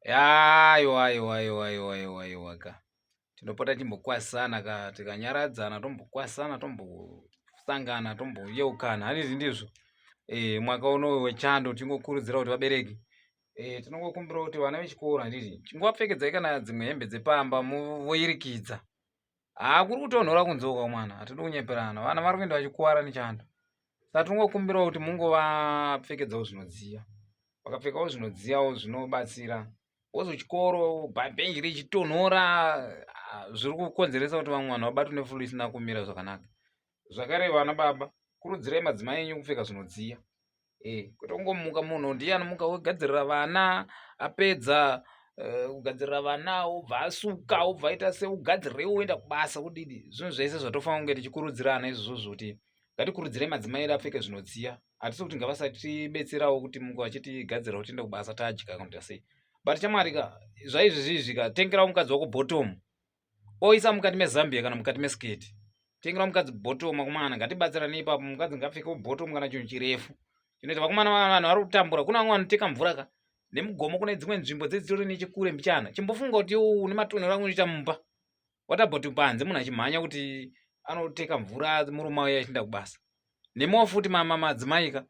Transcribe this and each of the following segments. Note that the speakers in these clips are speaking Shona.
Aiwa aiwa aiwa aiwa aiwa aiwa ka. Tinopota timbokwasana ka tikanyaradzana tombokwasana tombosangana tomboyeukana handizi ndizvo. Eh mwaka uno wechando tingokurudzira kuti vabereki eh tinongokumbira kuti vana vechikoro handiti chingowapfekedzai kana dzimwe hembe dzepamba voyirikidza. haa kuri kutonhora kunzeuka mwana hatidi kunyeperana vana vari kuenda vachikuvara nechando saka tinongokumbirawo kuti mungovapfekedzawo zvinodziya vakapfekawo zvinodziyawo zvinobatsira wozo chikoro bhenji richitonhora zviri kukonzeresa kuti vamwe vanhu vabatwe nefulu isina kumira zvakanaka zvakare vana baba kurudzirai madzimai enyu kupfeka zvinodziya eh, kwete kungomuka munhu ndiye anomuka wogadzirira vana apedza eh, kugadzirira vana obva asuka obva aita seugadzirirewo woenda kubasa kudidi zvinhu zvese zvatofanira kunge tichikurudzirana izvozvo kuti ngatikurudzirei madzimai edu apfeke zvinodziya hatisi kuti ngavasatibetserawo kuti mungu vachitigadzirira kuti tiende kubasa tadya kanoita sei but chamwari ka zvaizvizvizvi ka tengerawo mukadzi wako bottom oisa mukati mezambia kana mukati mesiketi tengera mukadzi bottom akomana ngatibatsirane ipapo mukadzi ngapfekewo bottom kana chinhu chirefu chinoita vakomana vanhu vari kutambura kuna vamwe vanoteka mvura ka nemugomo kune dzimwe nzvimbo dzedzitori nechekure mbichana chimbofunga kuti une matonero angu unoita mumba what about panze munhu achimhanya kuti anoteka mvura murume auya achinda kubasa Nemiwo futi mama madzimai ka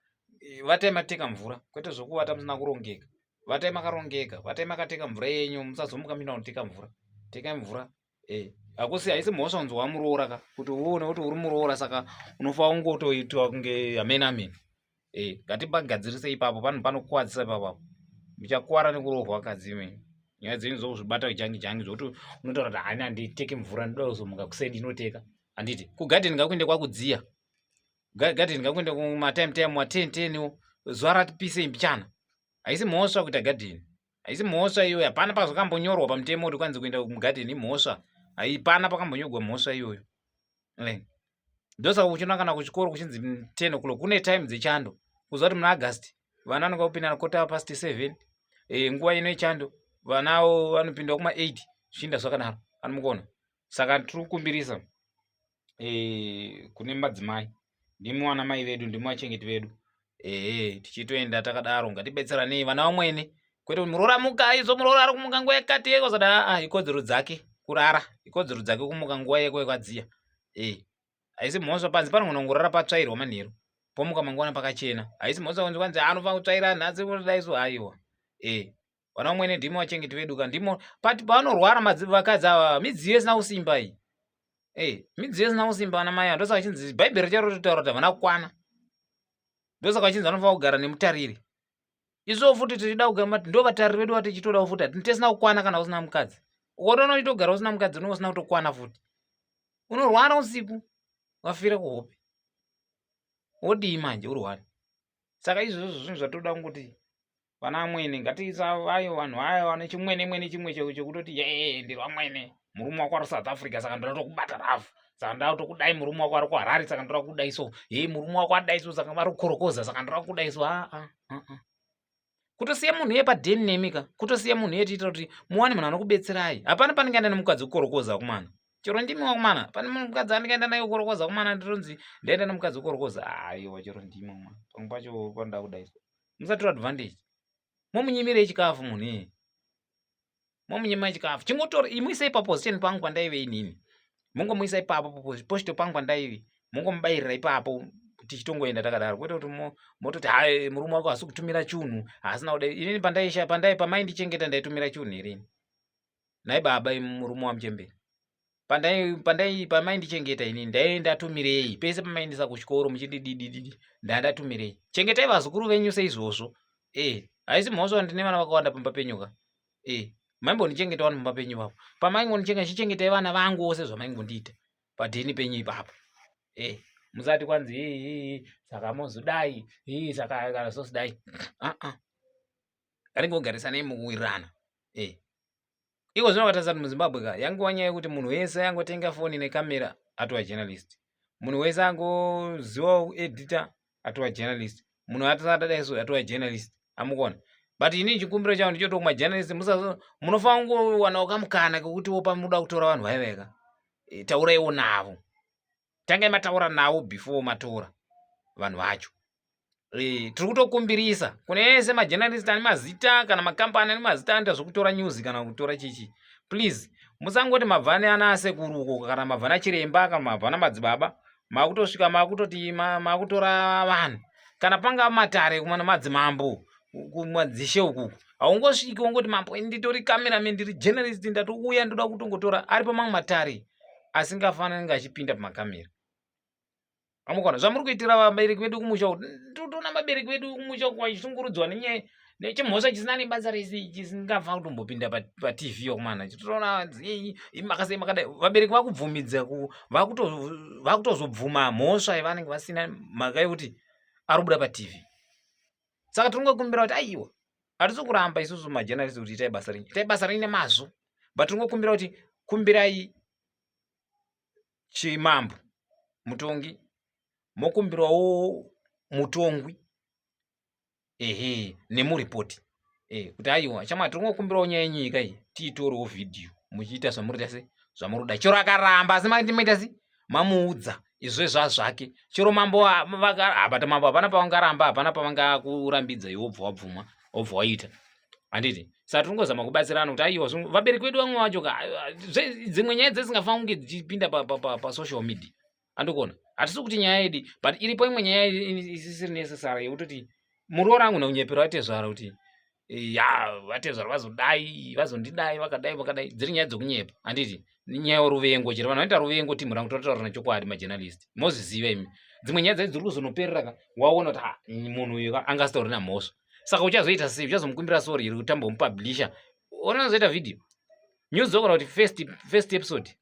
vatai mateka mvura kwete zvokuvata musina kurongeka. Vatai makarongeka, vatai makateka mvura yenyu musazomuka mina kuteka mvura. Teka mvura. Eh, hakusi haisi mhosva kunzi wamuroora ka kuti uone kuti uri muroora saka unofa ungotoitwa kunge amen amen. Eh, ngatibagadzirise ipapo panhu panokuwadzisa ipapo apo. Muchakuwara nekurohwa kadzi imweni. Nyaya dzenyu dzokuzvibata jangi jangi zvokuti unotaura kuti hani handiteke mvura ndoda kuzomuka kuseni ndinoteka. handiti kugadheni ngakuende kwakudziya gadheni ngakuende kumatime time waten ten wo zuva ratipisei mbichana haisi mhosva kuita gadheni haisi mhosva iyoyo hapana pazvakambonyorwa pamutemo kuti kwanzi kuenda mugadheni imhosva haipana pakambonyorwa mhosva iyoyo ndosaka kuchinoa kana kuchikoro kuchinzi ten o'clock kune time dzechando kuziva kuti muna august vana vanonga kupinda nakota past seven e, nguva ino yechando vanawo vanopinda kuma eight zvichiinda zvakadaro anomukono saka tiri kukumbirisa eh, kune madzimai ndimi wana mai vedu ndimi vachengeti vedu ehe tichitoenda takadaro ngatibetseranei vana vamwene kwete kuti muroora muka izvo muroora ari kumuka nguva yakati yekozada aa ah, ikodzero dzake kurara ikodzero dzake kumuka nguva yeko yekwadziya e eh, haisi mhosva panzi panogona kungorara patsvairwa manheru pomuka mangwana pakachena haisi mhosva kunzi kwanzi anofana kutsvaira nhasi kudaiso haiwa e eh, vana vamwene ndimo vachengeti vedu ka ndimo but pavanorwara vakadzi ava midziyo isina kusimba iyi ey midziyo isina kusimba vana mai ndosaka vachinzi bhaibheri charo ritotaura kuti havana kukwana ndosaka vachinzi vanofanira kugara nemutariri isuwo futi tichida kugara mati ndo vatariri vedu vatichitodawo futi hati tisina kukwana kana usina mukadzi ukotoona uchitogara usina mukadzi unenge usina kutokwana futi unorwara usiku wafira kuhope wodii manje urwari saka izvozvo zvinhu zvatoda kungoti vana amwene ngatiisa vayo vanhu vayo vane chimwene mwene chimwe chekutoti yee ndiri vamwene murume wako ari south africa saka ndoda tokubata rafu saka ndoda tokudai murume wako ari kuharari saka ndoda kudai so hei murume wako adai so saka vari kukorokoza saka ndoda kudai so aa ah, ah, ah, kutosiya munhu iye padeni nemi ka kutosiya munhu iye tiitira kuti muwane munhu anokubetserai hapana panenge aenda nemukadzi kukorokoza kumana chero ndimi wakumana pane mukadzi anenge aenda naye kukorokoza kumana nditonzi ndaenda nemukadzi kukorokoza aiwa chero ndimi wakumana pamwe pacho panoda kudai so musatora advantage momunyimirei chikafu munhu iyeye momunyima chikafu chingotora imuisei paposition pangu pandaive inini mungomuisa ipapo posito pangu pandaive mungomubayirira ipapo tichitongoenda takadaro kwete kuti mototi ha murume wako hasi kutumira chunhu haasina kuda inini pandaiisha pandai pamaindichengeta ndaitumira chunhu irini nhai baba imi murume wamuchembere pandai pandai pamaindichengeta ini ndaive ndatumirei pese pamaindisa kuchikoro muchindididididi ndaive ndatumirei chengetai vazukuru venyu seizvozvo e eh, haisi mhosva ndine vana vakawanda pamba penyu ka e eh, maimbondichengeta wani pamba penyu ipapo pamaingondichenga chichengetai vana vangu ose zvamaingondiita padheni penyu ipapo e eh, musati kwanzi ii saka mozodai ii saka kana sosidai aa ah, ah. anenge ogarisanei mukuwirirana e eh. iko zvino vakatarisa kuti muzimbabwe ka yangova nyaya yekuti munhu wese angotenga foni nekamera atova journalist munhu wese angozivawo kuedita atova journalist munhu atasatadai so atova journalist amukona but ini chikumbiro changu ndichoto kumajournalist munofanira kungowanawo kamukana kekuti wopa muda kutora vanhu vaiveka eh, tauraiwo navo tangai mataura navo before matora vanhu vacho e, tiri kutokumbirisa kune ese majenarist ane mazita kana makambani ane mazita anoita zvekutora news kana kutora chichi please musangoti mabvani ana asekuru uko kana mabvana chiremba kana mabvana madzibaba makutosvika makutoti makutora vanhu kana panga matare kumana madzimambo kumadzishe uku haungosviki wongoti mambo nditori cameraman ndiri journalist ndatouya ndoda kutongotora ari pamamwe matare asingafanani kunge achipinda pamakamera amukona zvamuri kuitira vabereki vedu kumusha uku totoona vabereki vedu kumusha uku vachishungurudzwa nenyaya nechimhosva chisina nebasa rese chisingafa kutombopinda patv yokumana chitoona makasei makadai vabereki vakubvumidza vakutozobvuma mhosva yavanenge vasina mhaka yekuti ari kubuda patv saka tiri kungokumbira kuti aiwa hatisi kuramba isusu majenarisi kuti itai basa renyu itai basa renyu nemazvo but tingokumbira kuti kumbirai chimambo mutongi mokumbirawo mutongwi ehe nemuripoti e, eh, kuti aiwa chama tiri kungokumbirawo nyaya yenyika iyi tiitorewo vhidhiyo muchiita zvamurita se zvamuri kuda chero akaramba asi maita se mamuudza izvezva zvake chero mambo vakaabata mambo hapana pavangaramba hapana pavangakurambidza iwe obva wabvuma obva waita handiti saka tiri kungozama kubatsirana kuti aiwa vabereki vedu vamwe vacho ka dzimwe nyaya dzisingafanira kunge dzichipinda pasocial media andikuona hatisi kuti nyaya yedi but iripo imwe nyaya isisiri necessary yekutoti muroora angu nakunyepera atezvara kuti ya vatezvara vazodai vazondidai vakadai vakadai dziri nyaya dzokunyepa handiti nyaya yoruvengo chero vanhu vanoita ruvengo timhu rangu tototaura nechokwadi majenalisti mozviziva imi dzimwe nyaya dzai dziri kuzonoperera ka waona kuti ah, munhu uyu anga asitori namhosva saka uchazoita sei uchazomukumbira sori iri kutamba umupablisha onozoita vhidhiyo news okona kuti first episode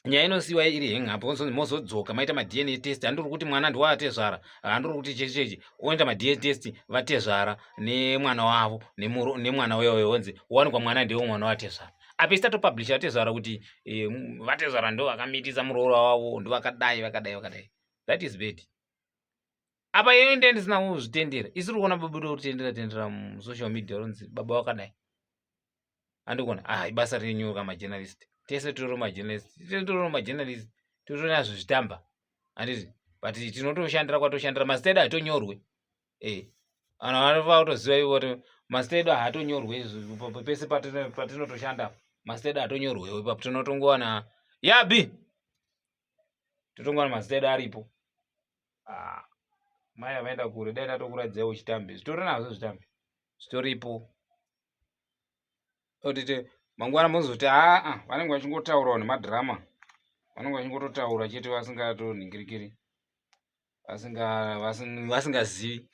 nyaya inosiyiwa iri hengapo ozonzi mozodzoka maita madna test handiri kuti mwana ndiwaatezvara handiri kuti chechi chechi oenda madna test vatezvara nemwana wavo nemwana wewe onzi wanikwa mwana ndewo mwana watezvara apa isi tatopublisha vatezvara kuti eh, vatezvara ndo vakamitisa muroora wavo ndo vakadai vakadai vakadai that is bad apa iyo inde ndisina kuzvitendera isiri kuona babudo kutendera tendera musocial media ronzi baba wakadai andikuona ah ibasa renyu ka majournalist tese toro majournalist tese toro majournalist totona zvitamba anditi but tinotoshandira kwatoshandira mazita edu hatonyorwe e eh, vanhu vanova kutoziva ivo kuti mazita edu haatonyorwe pese patinotoshanda mazita edu hatonyorwe ipapo tinotongowana yabi totongowana mazita edu aripo ah, mai avaenda kure dai tatokuradzai uchitambe zvitori nazvo zvitambe zvitoripo otite mangwana mozoti aa ah, vanenge vachingotaurawo nemadhirama vanenge vachingototaura chete vasingatonhingirikiri vasingazivi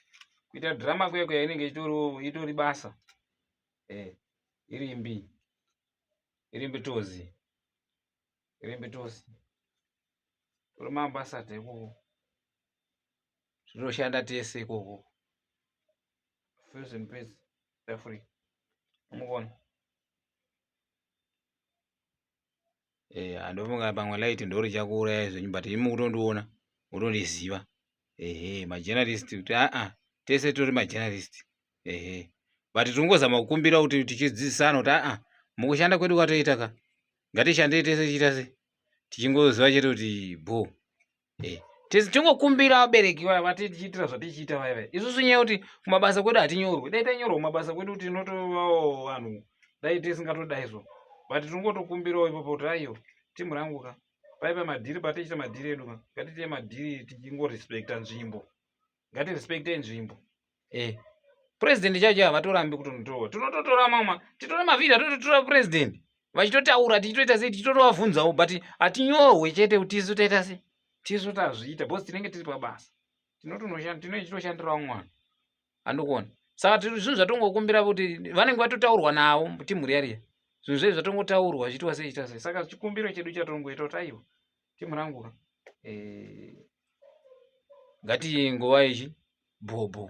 kuita dhirama kuye kuya inenge itori basa eh, irimbi irimbi tozi irimbi tozi tori maambasada ikoko zvinoshanda tese ikoko fezempedzi They're free. Move on. Eh, andofunga pamwe light ndori chakuuraya zvenyu but imi kutondiona kutondiziva. Ehe, majournalist kuti a a tese tori majournalist. Ehe. But tingozama kukumbira kuti tichidzidzisana kuti a a mukushanda kwedu kwatoita ka. Ngatishande tese tichita se. Tichingoziva chete kuti boo. eh, tisi tingokumbira vabereki vaya vatichiitira zvatichiita vaya vaya isusu nyaya yekuti kumabasa kwedu hatinyorwe dai tanyorwa kumabasa kwedu kuti tinotovawo vanhu dai tisingatodai so but tinongotokumbirawo ipapo kuti aiyo timu rangu ka paipa madhiri patichita madhiri edu ka ngatiite madhiri tichingorespecta nzvimbo ngati respecte nzvimbo eh president chacho havatorambi kutonotorwa tinototora mama titore mavhiri atototora president vachitotaura tichitoita sei tichitotovabvunzawo but hatinyohwe chete kuti tisu taita sei tisu tazviita bcause tinenge tiri pabasa tinotonoshandirawo mwana andikuona saka tiri zvinhu zvatongokumbira kuti vanenge vatotaurwa navo timhuri yariya zvinhu zvedu zvatongotaurwa zviitwa sei ita sei saka chikumbiro chedu chatongoita kuti aiwa Team rangu ra. Eh. Ngati nguva ichi bhobho.